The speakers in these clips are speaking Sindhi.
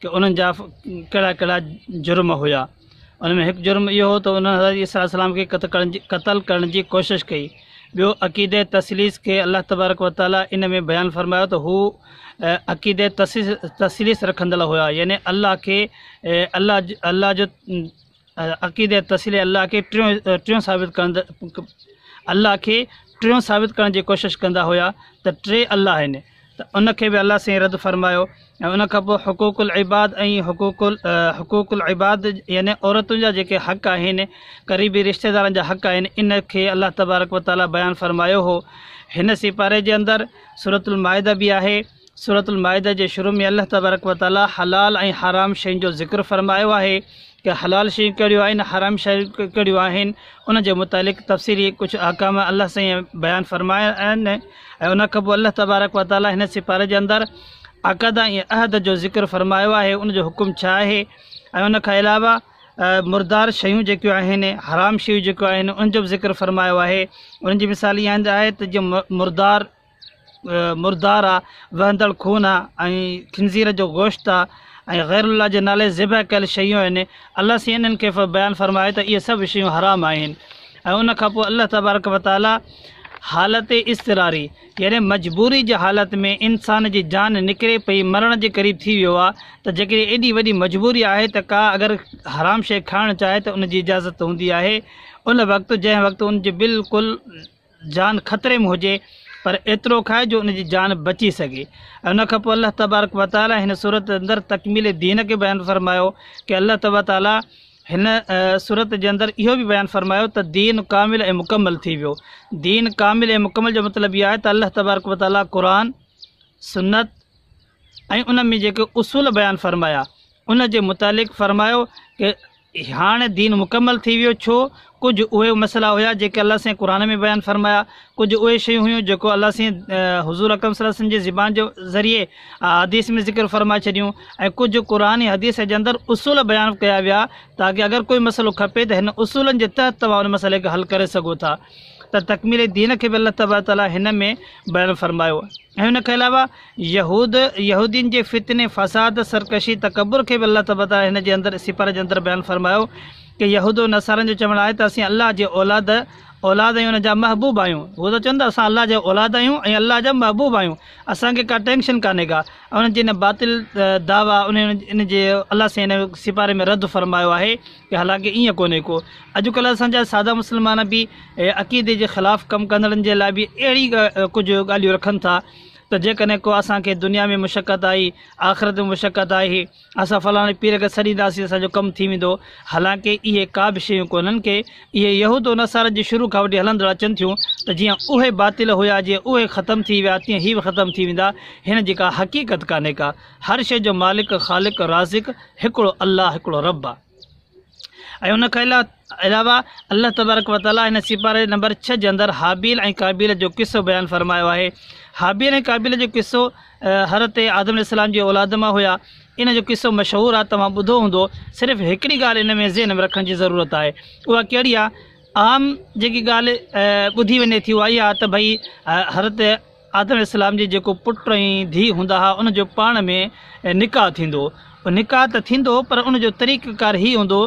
ته انهن جا ڪهڙا ڪهڙا جرم هيا. انهن ۾ هڪ جرم اهو هو ته انهن حضرت عيسيٰ عليه السلام کي قتل ڪرڻ جي ڪوشش ڪئي. ٻيو عقيده تثليث کي الله تبارڪ و تعاليٰ ان ۾ بيان فرمايو ته هو عقيده تثليث رکندڙ هيا يعني الله کي الله الله جو عقيدي ۽ تسليح الله کي ٽيون ٽيون ثابت ڪند الله کي ٽيون ثابت ڪرڻ جي ڪوشش ڪندا هيا ته ٽي الله آهن ته ان کي به الله سائين رد فرمايو ۽ ان کان پوء حقوق العباد ۽ حقوق ال حقوق العباد يعني عورتن جا جيڪي حق آهن قريبي رشتہ دارن جا حق آهن ان کي الله تبارڪ وتعاليٰ بيان فرمايو هو هن سپاري جي اندر سورت المائده به آهي سورة المائده جي شروع ۾ الله تبارڪ و تعالي حلال ۽ حرام شين جو ذڪر فرمايو آهي ته حلال شيون ڪهڙيون آهن حرام شيون ڪهڙيون آهن ان جي متعلق تفصيلي ڪجهه احڪام الله سائين بيان فرمايا آهن ۽ ان کان پوء الله تبارڪ و تعالي هن سپاري جي اندر عقد ۽ عهد جو ذڪر فرمايو آهي ان جو حڪم ڇا آهي ۽ ان کان علاوه مردار شيون جيڪيون آهن حرام شيون جيڪيون آهن ان جو به ذڪر فرمايو آهي ان جي مثال اها آهي ته جيئن مردار مردار آ، وهندڙ خون آ ۽ خنزير جو گوشت آ ۽ غير الله جي نالي ذبح ڪيل شيون آهن، الله سين انهن کي بيان فرمايو ته اهي سڀ شيون حرام آهن ۽ ان کان پوء الله تبارڪ و تعالي حالت اضطراري يعني مجبوري جي حالت ۾ انسان جي جان نڪري پئي مرڻ جي قريب ٿي ويو آ ته جيڪڏهن ايڏي وڏي مجبوري آهي ته ڪا اگر حرام شيء کائڻ چاهي ته ان جي اجازت هوندي آهي ان وقت جنهن وقت ان جي بلڪل جان خطري ۾ هجي پر ايترو کائي جو ان جي جان بچي سگهي ۽ ان کان پوء الله تبارڪ و تعالٰي هن سورت اندر تڪميل دين کي بيان فرمايو ڪي الله تبارڪ و تعالٰي هن سورت جي اندر اهو به بيان فرمايو ته دين ڪامل ۽ مڪمل ٿي ويو دين ڪامل ۽ مڪمل جو مطلب اهو آهي ته الله تبارڪ و تعالٰي قرآن سنت ۽ ان ۾ جيڪي اصول بيان فرمايا ان جي متعلق فرمايو ته هاڻ دين مڪمل ٿي ويو ڇو ڪجهه اهي مسئلا هيا جيڪي الله سائين قرآن ۾ بيان فرمايا ڪجهه اهي شيون هيون جيڪو الله سائين حضور اڪرم صلي الله وسلم جي زبان جي ذريعي حديث ۾ ذڪر فرمائي ڇڏيون ۽ ڪجهه قرآن ۽ حديث جي اندر اصول بيان ڪيا ويا تاڪي اگر ڪوئي مسئلو کپي ته هن اصولن جي تحت توهان ان مسئلي کي حل ڪري سگهو ٿا ته تڪميل دين کي به الله تبارڪ تعالي هن ۾ بيان فرمايو ۽ ان کان علاوه يهود، يهودين جي فتني، فساد، سرڪشي، تڪبر کي به الله تبارڪ وتعاليٰ هن جي اندر، سپاري جي اندر بيان فرمايو ته يهود و نصارن جو چوڻ آهي ته اسين الله جي اولاد، اولاد آهيون ان جا محبوب آهيون. هو ته چون ٿا اسان الله جا اولاد آهيون ۽ الله جا محبوب آهيون اسان کي ڪا ٽينڪشن ڪانهي ڪا. انهن جي ان باطل دعويٰ، انهن ان جي الله سائين ان سپاري ۾ رد فرمايو آهي. حالانڪه ائين ڪونهي ڪو اڄ ڪلهه اسان جا ساده مسلمان به عقيدي جي خلاف ڪم ڪندڙن جي لاء به اهڙي ڪجهه ڳالهيون رکن ٿا ته جيڪڏهن ڪو اسان کي دنيا ۾ مشقت آئي آخرت ۾ مشقت آئي اسان فلاڻي پير کي سڏينداسين اسان جو ڪم ٿي ويندو حالانڪه اهي ڪا به شيون ڪونهن ڪي اهي يهود و نصارن جي شروع کان وٺي هلندڙ اچن ٿيون ته جيئن اهي باطل هيا جيئن اهي ختم ٿي ويا تيئن هي به ختم ٿي ويندا هن جي ڪا حقيقت ڪانهي ڪا هر شيء جو مالڪ، خالق، رازق هڪڙو الله، هڪڙو رب آ. ۽ ان کان علاوه الله تبارڪ و تعالي هن سيپاري نمبر ڇهه جي اندر هابيل ۽ قابيل جو قصو بيان فرمايو آهي. هابيل ۽ قابيل جو قصو حضرت آدم عليه السلام جي اولاد مان هيا. ان جو قصو مشهور آ توهان ٻڌو هوندو. صرف هڪڙي ڳالهه ان ۾ ذهن ۾ رکڻ جي ضرورت آهي. اها ڪهڙي آ؟ عام جيڪي ڳالهه ٻڌي وڃي ٿي اها اها آ ته ڀئي حضرت آدم عليه السلام جي جيڪو پٽ ۽ ڌيء هوندا ها ان جو پاڻ ۾ نڪاح ٿيندو هو نڪاح ته ٿيندو هو پر ان جو طريقه ڪار هي هوندو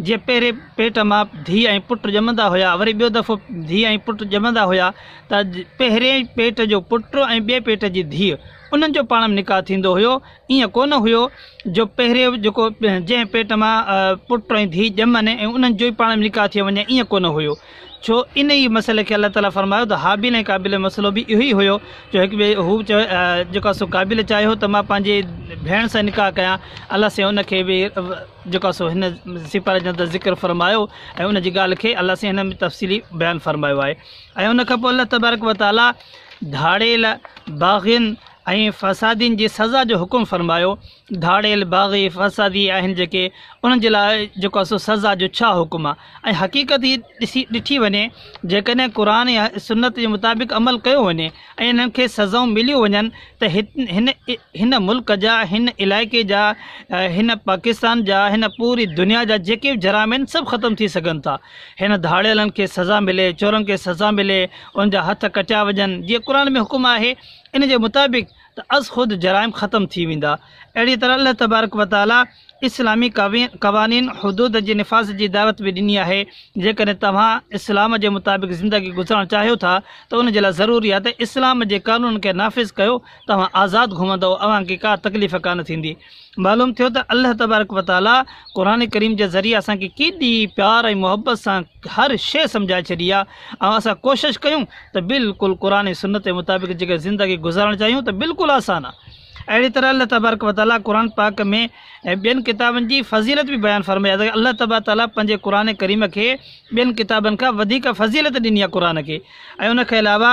جي پهرين پيٽ مان ڌيء ۽ پٽ ڄمندا هيا وري ٻيو دفعو ڌيء ۽ پٽ ڄمندا هيا ته پهرين پيٽ جو پٽ ۽ ٻئي پيٽ جي ڌيء انهن جو پاڻ ۾ نڪاح ٿيندو هيو ائين ڪونه هيو جو پهرين جيڪو جنهن پيٽ مان پٽ ۽ ڌيء ڄمن ۽ انهن جو ئي پاڻ ۾ نڪاح ٿئي وڃي ائين ڪونه هيو ڇو ان ئي مسئلي کي الله تعالي فرمايو ته هابيل ۽ قابيل جو مسئلو به اهو ئي هيو جو هڪ ٻئي هو به چوي جيڪو آهي سو قابيل چاهي هو ته مان پنهنجي ڀيڻ سان نڪاح ڪيان الله سين ان کي به جيڪو آهي سو هن سپاري جي اندر ذڪر فرمايو ۽ ان جي ڳالهه کي الله سين هن ۾ تفصيلي بيان فرمايو آهي ۽ ان کان پوء الله تبارڪ و تعالي ڌاڙيل باغين ۽ فسادين جي سزا جو حڪم فرمايو ڌاڙيل، باغي، فسادي آهن جيڪي انهن جي لاء جيڪو آهي سو سزا جو ڇا حڪم آهي ۽ حقيقت هي ڏسي ڏٺي وڃي جيڪڏهن قرآن يا سنت جي مطابق عمل ڪيو وڃي ۽ انهن کي سزائون مليون وڃن ته هن هن ملڪ جا هن علائقي جا هن پاڪستان جا هن پوري دنيا جا جيڪي به جرائم آهن سڀ ختم ٿي سگهن ٿا هن ڌاڙيلن کي سزا ملي چورن کي سزا ملي ان جا هٿ ڪٽيا وڃن جيئن قرآن ۾ حڪم آهي ان جي مطابق ته از خود جرائم ختم ٿي ويندا. اهڙيء طرح الله تبارڪ و تعاليٰ اسلامي قوانين، حدود جي نفاذ جي دعوت به ڏني آهي. جيڪڏهن توهان اسلام جي مطابق زندگي گذارڻ چاهيو ٿا ته ان جي لاء ضروري آهي ته اسلام جي قانونن کي نافذ ڪيو، توهان آزاد گهمندؤ، اوهان کي ڪا تڪليف ڪانه ٿيندي. معلوم ٿيو ته الله تبارڪ و تعالي قرآن ڪريم جي ذريعي اسان کي ڪيڏي پيار ۽ محبت سان هر شيء سمجهائي ڇڏي آهي ۽ اسان ڪوشش ڪيون ته بلڪل قرآن ۽ سنت جي مطابق جيڪا زندگي گذارڻ چاهيون ته بلڪل آسان آهي اهڙي طرح الله تبارڪ و تعالي قرآن پاڪ ۾ ٻين ڪتابن جي فضيلت به بيان فرمائي آهي الله تبارڪ تعالي پنهنجي قرآن ڪريم کي ٻين ڪتابن کان وڌيڪ فضيلت ڏني آهي قرآن کي ۽ ان کان علاوه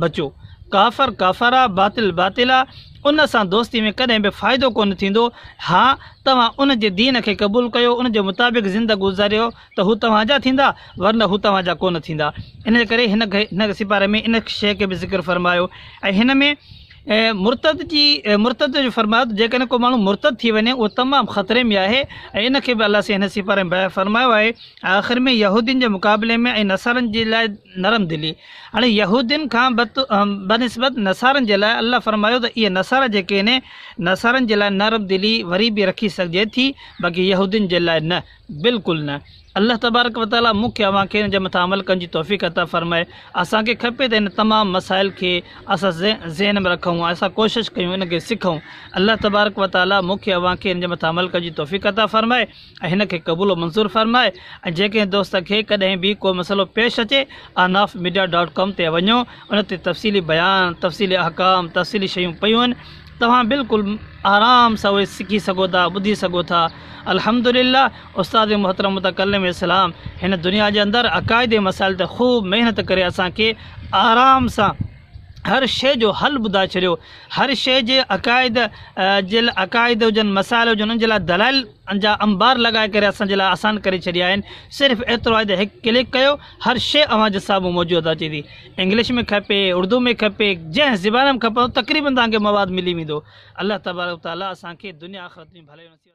بچو! ڪافر ڪافر آ، باطل باطل آ، ان سان دوستي ۾ ڪڏهن به فائدو ڪونه ٿيندو، ها توهان ان جي دين کي قبول ڪيو، ان جي مطابق زندگي گذاريو ته هو توهان جا ٿيندا، ورنه هو توهان جا ڪونه ٿيندا. ان ڪري هن هن سپاري ۾ ان شيء کي به ذڪر فرمايو ۽ هن ۾ مرتد جي مرتد جو فرمايو ته جيڪڏهن ڪو ماڻهو مرتد ٿي وڃي اهو تمام خطري ۾ آهي ۽ ان کي به الله سائين هن سپاري ۾ بيان فرمايو آهي ۽ آخر ۾ يهودين جي مقابلي ۾ ۽ نصارن جي لاء نرم دلي هاڻي يهودين کان بنسبت نصارن جي لاء الله فرمايو ته اهي نصارا جيڪي آهن نصارن جي لاء نرم دلي وري به رکي سگهجي ٿي باقي يهودين جي لاء نه بلڪل نه الله تبارڪ وتعالي مون کي اوهان کي ان جي مٿان عمل ڪرڻ جي توفيق عطا فرمائي اسان کي کپي ته ان تمام مسائل کي اسان ذهن ۾ رکون ۽ اسان ڪوشش ڪيون ان کي سکون الله تبارڪ وتعالي مون کي اوهان کي ان جي مٿان عمل ڪرڻ جي توفيق عطا فرمائي هن کي قبول و منظور فرمائي ۽ جنهن ڪنهن دوست کي ڪڏهن به ڪو مسئلو پيش اچي احناف ميڊيا ڊاٽ ڪام تي وڃو ان تي تفصيلي بيان تفصيلي احڪام تفصيلي شيون پيون آهن توهان بلڪل آرام سان اهي سکي سگهو ٿا ٻڌي سگهو ٿا الحمدلله استاد محترم متڪلم اسلام هن دنيا جي اندر عقائدي مسائل تي خوب محنت ڪري اسان کي آرام سان هر شيء جو حل ٻڌائي ڇڏيو، هر شيء جي عقائد جي لاء عقائد هجن، مسائل هجن انهن جي لاء دلائل جا انبار لڳائي ڪري اسان جي لاء آسان ڪري ڇڏيا آهن، صرف ايترو آهي ته هڪ ڪلڪ ڪيو هر شيء اوهان جي سامهون موجود اچي ٿي، انگلش ۾ کپي، اردو ۾ کپي، جنهن زبان ۾ کپندو تقريبن توهان کي مواد ملي ويندو، الله تبارڪ و تعاليٰ اسان کي دنيا آخرت ۾ ڀلائيون نصيب.